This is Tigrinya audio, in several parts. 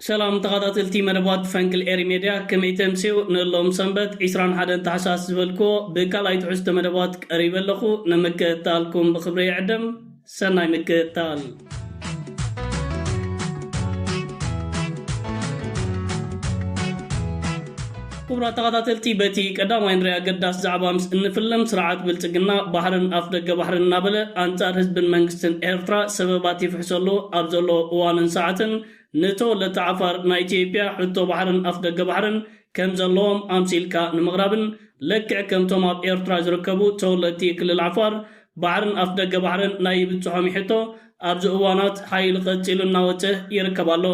ሰላም ተኻታተልቲ መደባት ፈንቅል ኤሪ ሜድያ ከመይ ተምስዩ ንሎም ሰንበት ዕስራን ሓደን ታሕሳስ ዝበልክዎ ብካልኣይ ትሕዝቶ መደባት ቀሪበ ኣለኹ ንምክእታልኩም ብኽብሪ ይዕድም ሰናይ ምክእታል። ክቡራት ተኻታተልቲ በቲ ቀዳማይ ንሪኣ ኣገዳሲ ዛዕባ ምስ እንፍልም ስርዓት ብልጽግና ባሕርን ኣፍ ደገ ባሕርን እናበለ ኣንጻር ህዝብን መንግስትን ኤርትራ ሰበባት ይፍሕሰሉ ኣብ ዘሎ እዋንን ሰዓትን ንተወለድቲ ዓፋር ናይ ኢትዮጵያ ሕቶ ባሕርን ኣፍደገ ባሕርን ከም ዘለዎም ኣምሲልካ ንምቕራብን ልክዕ ከምቶም ኣብ ኤርትራ ዝርከቡ ተወለድቲ ክልል ዓፋር ባሕርን ኣፍደገ ባሕርን ናይ ይብጽሖም እዩ ሕቶ ኣብዚ እዋናት ሓይሊ ቀጺሉ እናወጸ ይርከብ ኣሎ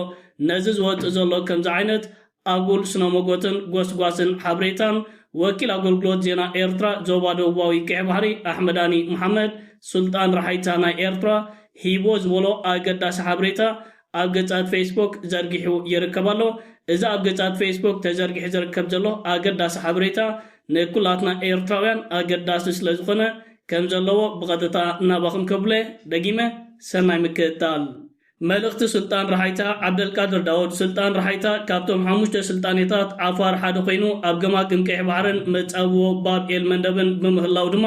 ነዚ ዝወጽእ ዘሎ ከምዚ ዓይነት ኣጉል ስነሞጎትን ጎስጓስን ሓብሬታን ወኪል ኣጎልጉሎት ዜና ኤርትራ ዞባ ደቡባዊ ቀይሕ ባሕሪ ኣሕመዳኒ መሓመድ ሱልጣን ራሓይታ ናይ ኤርትራ ሂብዎ ዝበሎ ኣገዳሲ ሓብሬታ ኣብ ገጻት ፌስቡክ ዘርጊሑ ይርከብ ኣሎ እዚ ኣብ ገጻት ፌስቡክ ተዘርጊሑ ዝርከብ ዘሎ ኣገዳሲ ሓብሬታ ንኩላትና ኤርትራውያን ኣገዳሲ ስለ ዝኾነ ከም ዘለዎ ብቐጥታ ናባኹም ከብለ ደጊመ ሰናይ ምክእታል መልእኽቲ ስልጣን ራሓይታ፣ ዓብደልቃድር ዳውድ፣ ስልጣን ራሓይታ ካብቶም ሓሙሽተ ስልጣኔታት ዓፋር ሓደ ኮይኑ ኣብ ገማግም ቀይሕ ባሕርን መጻብቦ ባብ ኤል መንደብን ብምህላው ድማ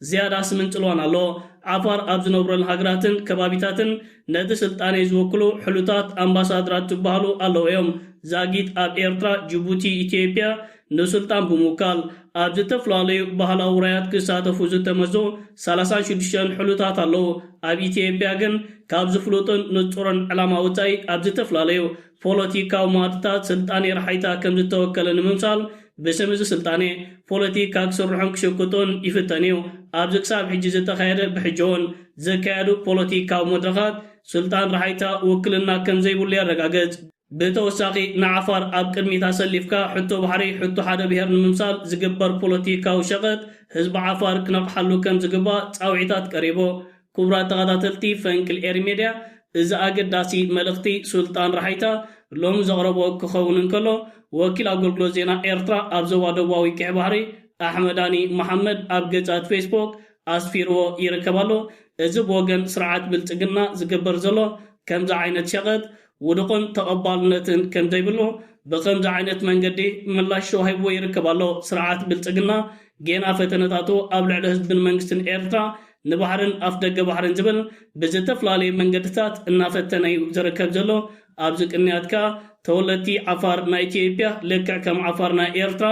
ዝያዳ ስምን ጽልዋን ኣለዎ። ዓፋር ኣብ ዝነብረለን ሃገራትን ከባቢታትን ነቲ ስልጣኔ ዝውክሉ ሕሉታት ኣምባሳድራት ዝበሃሉ ኣለዉ እዮም። ዛጊት ኣብ ኤርትራ፣ ጅቡቲ፣ ኢትዮጵያ፣ ንስልጣን ብምውካል ኣብ ዝተፈላለዩ ባህላዊ ውራያት ክሳተፉ ዝተመዝዙ ሰላሳን ሽዱሽተን ሕሉታት ኣለዉ። ኣብ ኢትዮጵያ ግን ካብ ዝፍሉጥን ንጹርን ዕላማ ወጻኢ ኣብ ዝተፈላለዩ ፖለቲካዊ መኣድታት ስልጣኔ ረሓይታ ከም ዝተወከለ ንምምሳል ብስም እዚ ስልጣኔ ፖለቲካ ክስርሑን ክሽቅጡን ይፍተን እዩ። ኣብዚ ክሳብ ሕጂ ዝተኻየደ ብሕጂ'ውን ዝካየዱ ፖለቲካዊ መድረኻት ስልጣን ረሓይታ ውክልና ከም ዘይብሉ የረጋግጽ። ብተወሳኺ ንዓፋር ኣብ ቅድሚት ኣሰሊፍካ ሕቶ ባሕሪ ሕቶ ሓደ ብሄር ንምምሳል ዝግበር ፖለቲካዊ ሸቐጥ ህዝቢ ዓፋር ክነቕሓሉ ከም ዝግባእ ፃውዒታት ቀሪቡ። ኩቡራት ተኸታተልቲ ፈንቅል ኤሪ ሜድያ እዚ ኣገዳሲ መልእኽቲ ሱልጣን ራሓይታ ሎሚ ዘቕረቦ ክኸውን እንከሎ ወኪል ኣጎልግሎት ዜና ኤርትራ ኣብ ዞባ ደቡባዊ ቂሕ ባሕሪ ኣሕመዳኒ መሓመድ ኣብ ገፃት ፌስቦክ ኣስፊርዎ ይርከብ ኣሎ እዚ ብወገን ስርዓት ብልፅግና ዝግበር ዘሎ ከምዚ ዓይነት ሸቐጥ ውዱቕን ተቐባልነትን ከምዘይብሉ ብኸምዚ ዓይነት መንገዲ ምላሽ ተዋሂብዎ ይርከብ ኣሎ። ስርዓት ብልጽግና ጌና ፈተነታቱ ኣብ ልዕሊ ህዝብን መንግስትን ኤርትራ ንባሕርን ኣፍደገ ባሕርን ዝብል ብዝተፍላለየ መንገድታት እናፈተነ እዩ ዝርከብ ዘሎ። ኣብዚ ቅንያት ከኣ ተወለድቲ ዓፋር ናይ ኢትዮጵያ ልክዕ ከም ዓፋር ናይ ኤርትራ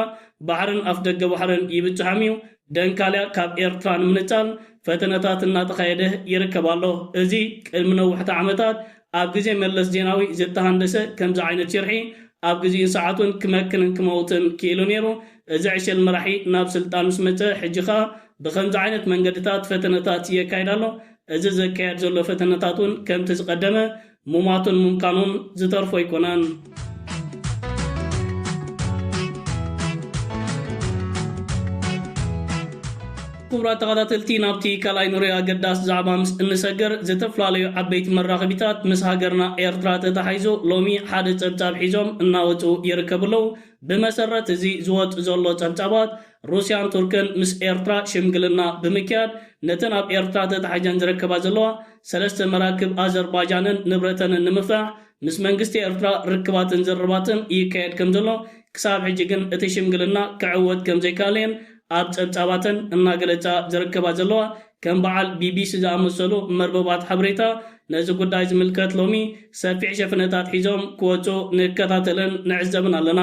ባሕርን ኣፍደገ ባሕርን ይብጽሖም እዩ። ደንካልያ ካብ ኤርትራ ንምንጻል ፈተነታት እናተኻየደ ይርከብ ኣሎ። እዚ ቅድሚ ነውሕቲ ዓመታት ኣብ ግዜ መለስ ዜናዊ ዝተሃንደሰ ከምዚ ዓይነት ሽርሒ ኣብ ግዚኡን ሰዓቱን ክመክንን ክመውትን ክኢሉ ኔሩ። እዚ ዕሸል መራሒ ናብ ስልጣን ምስ መጸ ሕጂ ከኣ ብኸምዚ ዓይነት መንገድታት ፈተነታት የካይድ ኣሎ። እዚ ዘካየድ ዘሎ ፈተነታት ውን ከምቲ ዝቀደመ ሙማቱን ሙምካኑን ዝተርፎ ኣይኮነን። ክቡራት ተኸታተልቲ ናብቲ ካልኣይ ንሪኦ ኣገዳሲ ዛዕባ ምስ እንሰገር ዝተፈላለዩ ዓበይቲ መራኸቢታት ምስ ሃገርና ኤርትራ ተታሒዙ ሎሚ ሓደ ጸብጻብ ሒዞም እናወጹ ይርከቡ ኣለዉ። ብመሰረት እዚ ዝወጽ ዘሎ ጸብጻባት ሩስያን ቱርክን ምስ ኤርትራ ሽምግልና ብምክያድ ነተን ኣብ ኤርትራ ተታሒዘን ዝርከባ ዘለዋ ሰለስተ መራክብ ኣዘርባጃንን ንብረተንን ንምፍታሕ ምስ መንግስቲ ኤርትራ ርክባትን ዝርርባትን ይካየድ ከምዘሎ፣ ክሳብ ሕጂ ግን እቲ ሽምግልና ክዕወት ከምዘይከኣለ'የን ኣብ ጸብጻባተን እናገለጻ ዝርከባ ዘለዋ። ከም በዓል ቢቢሲ ዝኣመሰሉ መርበባት ሓበሬታ ነዚ ጉዳይ ዝምልከት ሎሚ ሰፊሕ ሸፍነታት ሒዞም ክወጹ ንከታተልን ንዕዘብን ኣለና።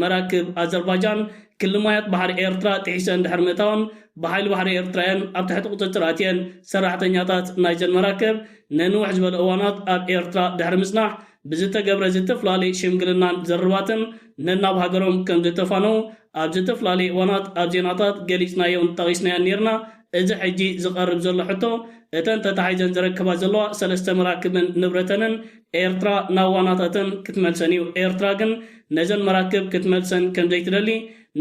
መራክብ ኣዘርባጃን ክሊ ማያት ባሕሪ ኤርትራ ጥሒሰን ድሕሪ ምእታወን ብሓይሊ ባሕሪ ኤርትራ'የን ኣብ ትሕቲ ቁጽጽር ኣትየን። ሰራሕተኛታት ናይዘን መራክብ ንንውሕ ዝበለ እዋናት ኣብ ኤርትራ ድሕሪ ምጽናሕ ብዝተገብረ ዝተፍላለየ ሽምግልናን ዝርርባትን ነናብ ሃገሮም ከም ዝተፋነዉ ኣብ ዝተፍላለየ እዋናት ኣብ ዜናታት ገሊጽናዮን ጠቒስናዮን ኔርና። እዚ ሕጂ ዝቐርብ ዘሎ ሕቶ እተን ተታሒዘን ዝረከባ ዘለዋ ሰለስተ መራክብን ንብረተንን ኤርትራ ናብ ዋናታተን ክትመልሰን እዩ። ኤርትራ ግን ነዘን መራክብ ክትመልሰን ከም ዘይትደሊ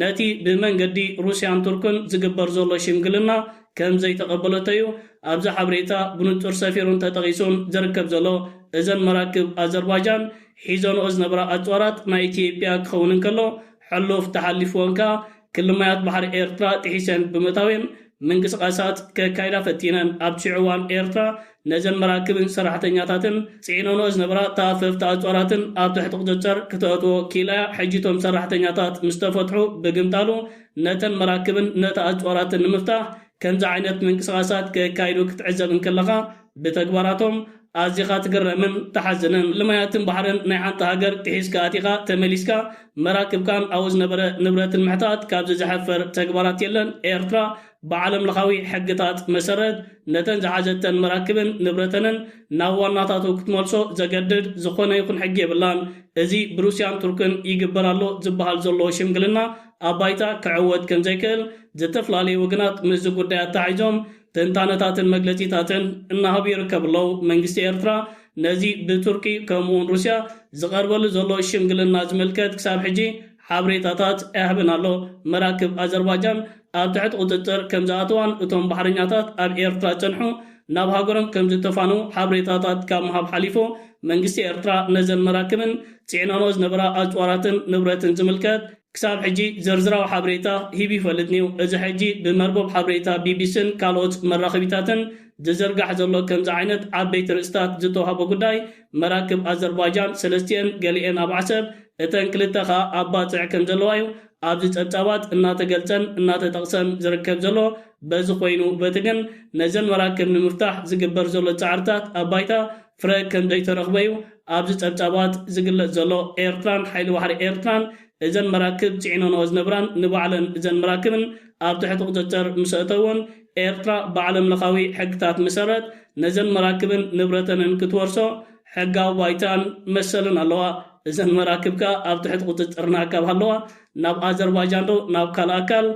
ነቲ ብመንገዲ ሩስያን ቱርክን ዝግበር ዘሎ ሽምግልና ከም ዘይተቐበለቶ'ዩ ኣብዚ ሓበሬታ ብንጹር ሰፊሩን ተጠቒሱን ዝርከብ ዘሎ። እዘን መራክብ ኣዘርባጃን ሒዘንኦ ዝነበራ ኣጽዋራት ናይ ኢትዮጵያ ክኸውን እንከሎ፣ ሕሉፍ ተሓሊፍወን ከኣ ክሊ ማያት ባሕሪ ኤርትራ ጥሒሰን ብምእታዌን ምንቅስቓሳት ከካይዳ ፈቲነን። ኣብቲ ሽዑ እዋን ኤርትራ ነዘን መራክብን ሰራሕተኛታትን ጽዒነንኦ ዝነበራ ተኣፈፍቲ ኣጽዋራትን ኣብ ትሕቲ ቁጽጽር ክተእትዎ ኪኢላ'ያ፣ ሕጂ እቶም ሰራሕተኛታት ምስ ተፈትሑ ብግምጣሉ ነተን መራክብን ነቲ ኣጽዋራትን ንምፍታሕ ከምዚ ዓይነት ምንቅስቓሳት ከካይዱ ክትዕዘብ እንክለኻ ብተግባራቶም ኣዚኻ ትግረምን ትሓዝንን። ልማያትን ባሕርን ናይ ሓንቲ ሃገር ጥሒስካ ኣቲኻ ተመሊስካ መራክብካን ኣብኡ ዝነበረ ንብረትን ምሕታት ካብዚ ዘሕፍር ተግባራት የለን። ኤርትራ ብዓለምለኻዊ ሕግታት መሰረት ነተን ዝሓዘተን መራክብን ንብረተንን ናብ ዋናታቱ ክትመልሶ ዘገድድ ዝኾነ ይኹን ሕጊ የብላን። እዚ ብሩስያን ቱርክን ይግበር ኣሎ ዝበሃል ዘሎ ሽምግልና ኣብ ባይታ ክዕወት ከምዘይክእል ዝተፍላለዩ ወገናት ምስዚ ጉዳይ ኣተሓሒዞም ትንታነታትን መግለጺታትን እናሃቡ ይርከቡ ኣለው። መንግስቲ ኤርትራ ነዚ ብቱርኪ ከምኡውን ሩስያ ዝቐርበሉ ዘሎ ሽምግልና ዝምልከት ክሳብ ሕጂ ሓብሬታታት ኣይሃበን ኣሎ። መራክብ ኣዘርባጃን፣ ኣብ ትሕቲ ቁጽጽር ከምዝኣተዋን እቶም ባሕረኛታት ኣብ ኤርትራ ዝጸንሑ ናብ ሃገሮም ከምዝተፋነዉ ሓበሬታታት ካብ ምሃብ ሓሊፉ መንግስቲ ኤርትራ ነዘን መራክብን ጺዕነንኦ ዝነበራ ኣጽዋራትን ንብረትን ዝምልከት ክሳብ ሕጂ ዝርዝራዊ ሓበሬታ ሂቡ ይፈልጥን'ዩ። እዚ ሕጂ ብመርበብ ሓበሬታ ቢቢሲን ካልኦት መራኸቢታትን ዝዝርጋሕ ዘሎ ከምዚ ዓይነት ዓበይቲ ርእስታት ዝተዋህቦ ጉዳይ መራክብ ኣዘርባጃን ሰለስቲኤን ገሊኤን ኣብ ዓሰብ እተን ክልተ ከኣ ኣብ ባጽዕ ከምዘለዋ'ዩ ኣብዚ ጸብጻባት እናተገልጸን እናተጠቕሰን ዝርከብ ዘሎ በዚ ኮይኑ፣ በቲ ግን ነዘን መራክብ ንምፍታሕ ዝግበር ዘሎ ጻዕርታት ኣብ ባይታ ፍረ ከምዘይተረኽበ'ዩ ኣብዚ ጸብጻባት ዝግለጽ ዘሎ። ኤርትራን ሓይሊ ባሕሪ ኤርትራን እዘን መራክብ ጽዒነንኦ ዝነብራን ንባዕለን እዘን መራክብን ኣብ ትሕቲ ቁጽጽር ምስኣእተዎን ኤርትራ ብዓለምለኻዊ ሕግታት መሰረት ነዘን መራክብን ንብረተንን ክትወርሶ ሕጋዊ ባይታን መሰልን ኣለዋ። እዘን መራክብ ከኣ ኣብ ትሕቲ ቁጽጽርና ካብ ሃለዋ ናብ ኣዘርባጃን ዶ ናብ ካልእ ኣካል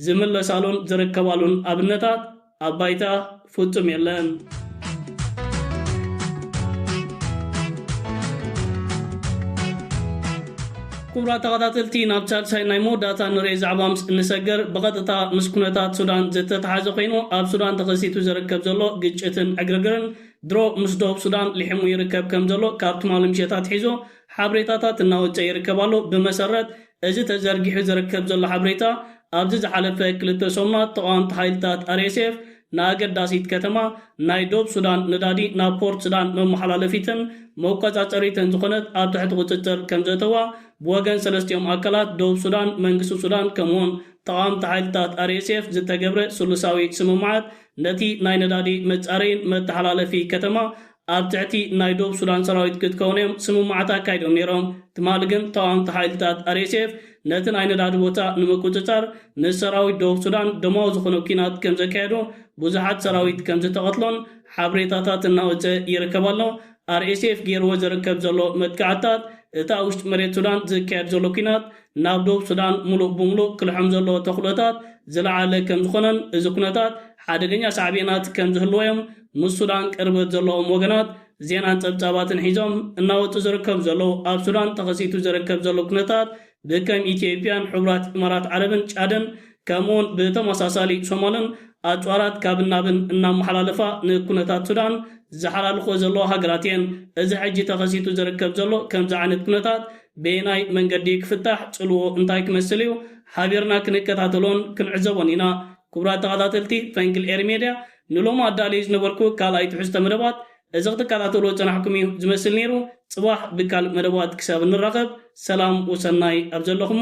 ዝምለሳሉን ዝርከባሉን ኣብነታት ኣብ ባይታ ፍጹም የለን። ኩቡራት ተኸታተልቲ ናብ ሳልሳይ ናይ መወዳእታ ንርኤ ዛዕባ ምስ እንሰገር ብቐጥታ ምስ ኩነታት ሱዳን ዝተተሓዘ ኮይኑ ኣብ ሱዳን ተኸሲቱ ዝርከብ ዘሎ ግጭትን ዕግርግርን ድሮ ምስ ደቡብ ሱዳን ሊሕሙ ይርከብ ከም ዘሎ ካብ ትማሊ ምሸት ኣትሒዞ ሓብሬታታት እናወጸ ይርከብ ኣሎ። ብመሰረት እዚ ተዘርጊሑ ዝርከብ ዘሎ ሓብሬታ ኣብዚ ዝሓለፈ ክልተ ሰሙናት ተቓዋምቲ ሓይልታት RSF ንኣገዳሲት ከተማ ናይ ዶብ ሱዳን ነዳዲ ናብ ፖርት ስዳን መመሓላለፊትን መቆጻጸሪትን ዝኾነት ኣብ ትሕቲ ቁጽጽር ከም ዘእተዋ ብወገን ሰለስቲኦም ኣካላት ደቡብ ሱዳን፣ መንግስቲ ሱዳን ከምኡውን ተቓዋምቲ ሓይልታት RSF ዝተገብረ ስሉሳዊ ስምምዓት ነቲ ናይ ነዳዲ መጻረይን መተሓላለፊ ከተማ ኣብ ትሕቲ ናይ ዶብ ሱዳን ሰራዊት ክትከውን እዮም ስምምዓት ኣካይዶም ነይሮም። ትማሊ ግን ተቓወምቲ ሓይልታት RSF ነቲ ናይ ነዳዲ ቦታ ንምቁጽጻር ምስ ሰራዊት ዶብ ሱዳን ደማዊ ዝኾነ ኲናት ከምዘካየዱ ብዙሓት ሰራዊት ከምዝተቐትሉን ሓብሬታታት እናወጸ ይርከብ ኣሎ። RSF ገይርዎ ዝርከብ ዘሎ መጥቃዕትታት እታ ውሽጢ መሬት ሱዳን ዝካየድ ዘሎ ኲናት ናብ ደቡብ ሱዳን ሙሉእ ብሙሉእ ክልሕም ዘለዎ ተኽሎታት ዝለዓለ ከምዝኾነን እዚ ኩነታት ሓደገኛ ሳዕቤናት ከምዝህልዎ'ዮም ምስ ሱዳን ቅርበት ዘለዎም ወገናት ዜናን ፀብፃባትን ሒዞም እናወፁ ዝርከቡ ዘለዉ። ኣብ ሱዳን ተኸሲቱ ዝርከብ ዘሎ ኩነታት ብከም ኢትዮጵያን ሕቡራት ኢማራት ዓረብን ጫድን ከምኡ'ውን ብተመሳሳሊ ሰሞንን ኣጽዋራት ካብን ናብን እናመሓላለፋ ንኩነታት ሱዳን ዝሓላልኽኦ ዘለዋ ሃገራት እየን። እዚ ሕጂ ተኸሲቱ ዝርከብ ዘሎ ከምዚ ዓይነት ኩነታት በየናይ መንገዲ እዩ ክፍታሕ፣ ጽልውኡ እንታይ ክመስል እዩ፣ ሓቢርና ክንከታተሎን ክንዕዘቦን ኢና። ክቡራት ተኸታተልቲ ፈንቅል ኤሪ ሜድያ፣ ንሎሚ ኣዳልየዮ ዝነበርኩ ካልኣይ ትሕዝቶ መደባት እዚ ክትከታተልዎ ዝጸናሕኩም እዩ ዝመስል ነይሩ። ጽባሕ ብካልእ መደባት ክሳብ እንራኸብ ሰላም ወሰናይ ኣብ ዘለኹሞ።